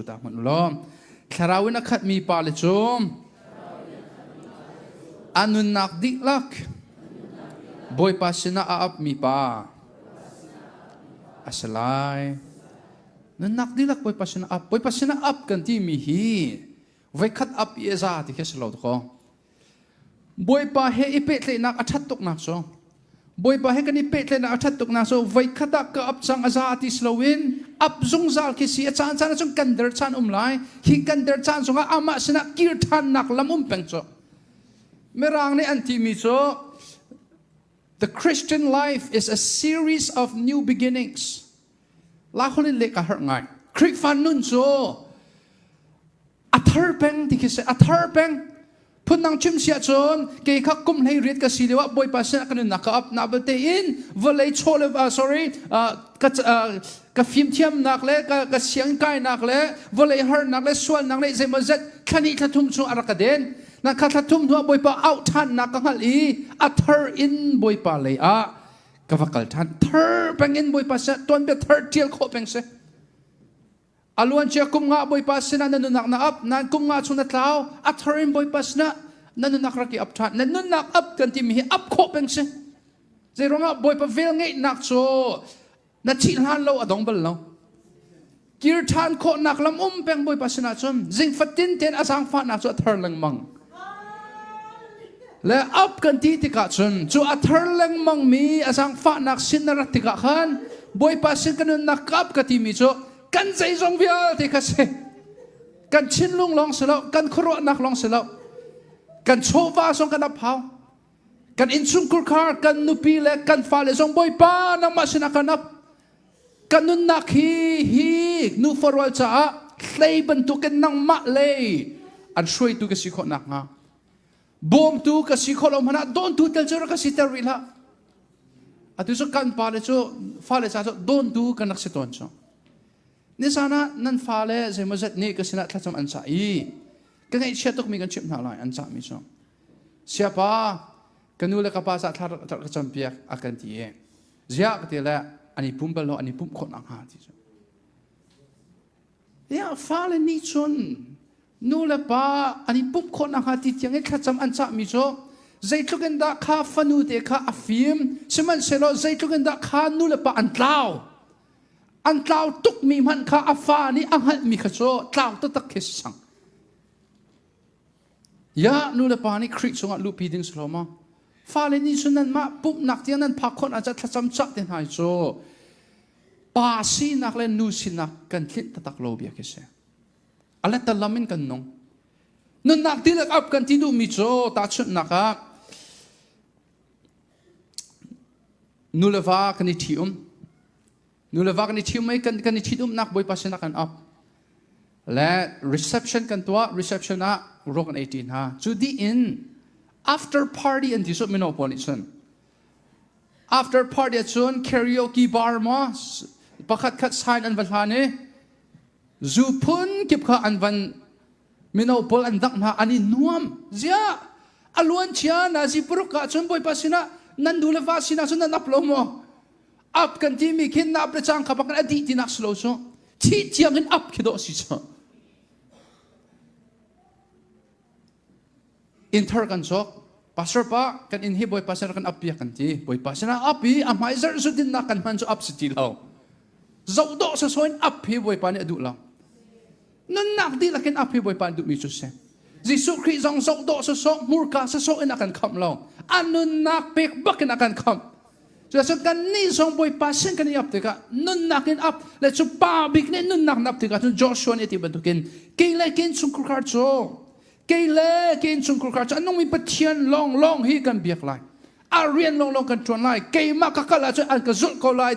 ta hmanh ulaw thlarau in a khatmi pale cu a nunnak dihlak Bawipa sinah a apmi pa a si lai. Nunnak dihlak Bawipa sinah ap. Bawipa sinah ap kan timi hi voikhat ap i a za ti khi a si lo dakaw. Bawipa he i pehtleihnak a ṭhat tuknak cu Bawipa he kan i pehtleihnak a ṭhat tuknak cu voikhat ah ka ap cang a za ti si loin ap zungzal khi si a caan caan ah cun kan der caan um lai hi kan der caan zongah amah sinah kir ṭhannak lam um peng cu Mirang nih an timi cu The Christian life is a series of new beginnings la holin leka har ngai Khrihfa nun cu a thar peng ti khi si a thar peng phundang chim si ahcun kei kha kum hlei riat ka si lioah bawipa sinah kan nunnak ka ap na belte in vawlei chaw le sorry ka ka fimthiamnak le ka, ka siang kainak le vawlei harnak le sualnak le zeimaw zet thlani thlathum chung a rak ka den na kha thlathum hnuah bawipa au ṭhannak ka hngalh i a thar in bawipa lei ah ka va kal ṭhan thar pengin bawipa sinah tuanbia thar ṭial khawh peng si A luancia kum nga Bawipa sinah na nunak na ap nain kum nga chung na tlau a thar in Bawipa sinah na nunak rak i ap ṭhan na nunnak ap kan timi hi ap khawh peng si zeiruangah Bawipa vel ngeihnak cu na thih hlan lo a dong bal lo kir ṭhan khawhnak lam um peng Bawipa sinah cun zing fatin tein a zaangfahnak cu a thar lengmang le up kan ti tikah cun cu a thar lengmangmi a zaangfahnak sin na rat tikah khan Bawipa sin ka nunnak kap ka timi cu kan zeizong vialte kha si kan thinlung lawng si lo kan khuaruahnak lawng si lo kan chawva zong kan aphau kan innchungkhar kan nupi le kan fale zong Bawipa nangmah sinah kan ap Kan nunnak hi hi nufa rual caah hlei bantukin nangmah lei an hruaitu ka si khawh nakhnga bawmtu ka si khawh lo hmanh ah dawntu tal cu rak ka si ter rih hlah atu cu kan pale cu fale ca cu dawntu kan rak si tawn cu nisan ah nan fale zeimaw zat nih ka sinah thlacam an cah i ka ngaihchia tukmi kan chimh hna lai an cahmi cu siapa ka nu le ka pa ca thlar ka campiak a kan ti i ziah ka ti le an i pum bal lo an i pumh khawh nakhnga ti cu ya fale nih cun nu le pa an i pumh khawh nakhnga ti tiang i thlacam an cah mi cu zeitluk in dah kha fanu te kha a fim sihmanhsehlaw zeitluk in dah kha nu le pa an tlau an tlau tuk mi hmanh kha a fa nih a hngalh mi kha cu tlau taktak khi si sang Ya nulepa nih Khrih cungah luhpi ding si lo ma. Fale nih cun nanmah pumhnak tiang nan phak khawt ah cah thlacam cah te hna hi cu pa sinak le nu sinak kan tlinh tatak lo bia khi si. A letter lam in kan nung. Nunnak ti lak up kan ti duhmi cu tahchunhnak ah nuleva kan i ṭhi um. Nu le va kan i ṭhium i kan, kan i ṭhitumnak Bawipa sinah kan op. Le reception kan tuah, reception ah ro kan ei ṭi hna. Cu dih in after party an ti suk mino pawl nih cun. After party ah cun karaoke bar maw pakhat khat sign an va hlan i zu phun kip kha an van mino pawl an dangh hna an i nuam ziah a luancia nazi paruk ah cun bawipa sinah nan nu le va sinah cun nan up lo maw ap kan ti mi khin na ap le cang kha bakin a dih tinak si lo cu thih tiang in ap khi dawh si cu inthar kan sok pastor pa kan in hi bawi pastor kan ap pia kan ti bawipa sinah ap i a hmai zarh su din nak kan hman cu ap si ti lo zoh dawh sa soin ap hi bawipa nih a duh lo Nunnak dihlak in a phi Bawipa an duhmi cu si. Jesuh Khrih zong zohdawh sawsawh hmurka sawsawh in a kan khamh lo. A nunnak pek bak in a kan khamh. Cucaah kannih zong Bawipa sin kan i ap tikah nunnak in ap le cu pa bik nih nunnak na ap tikah cun Joshua nih a ti bantukin kei le kei chungkhar cu kei le kei chungkhar cu a nungmi Pathian lawnglawng hi kan biak lai. A rian lawnglawng kan ṭuan lai. Keimah ka kal ahcun an ka zulh ko lai.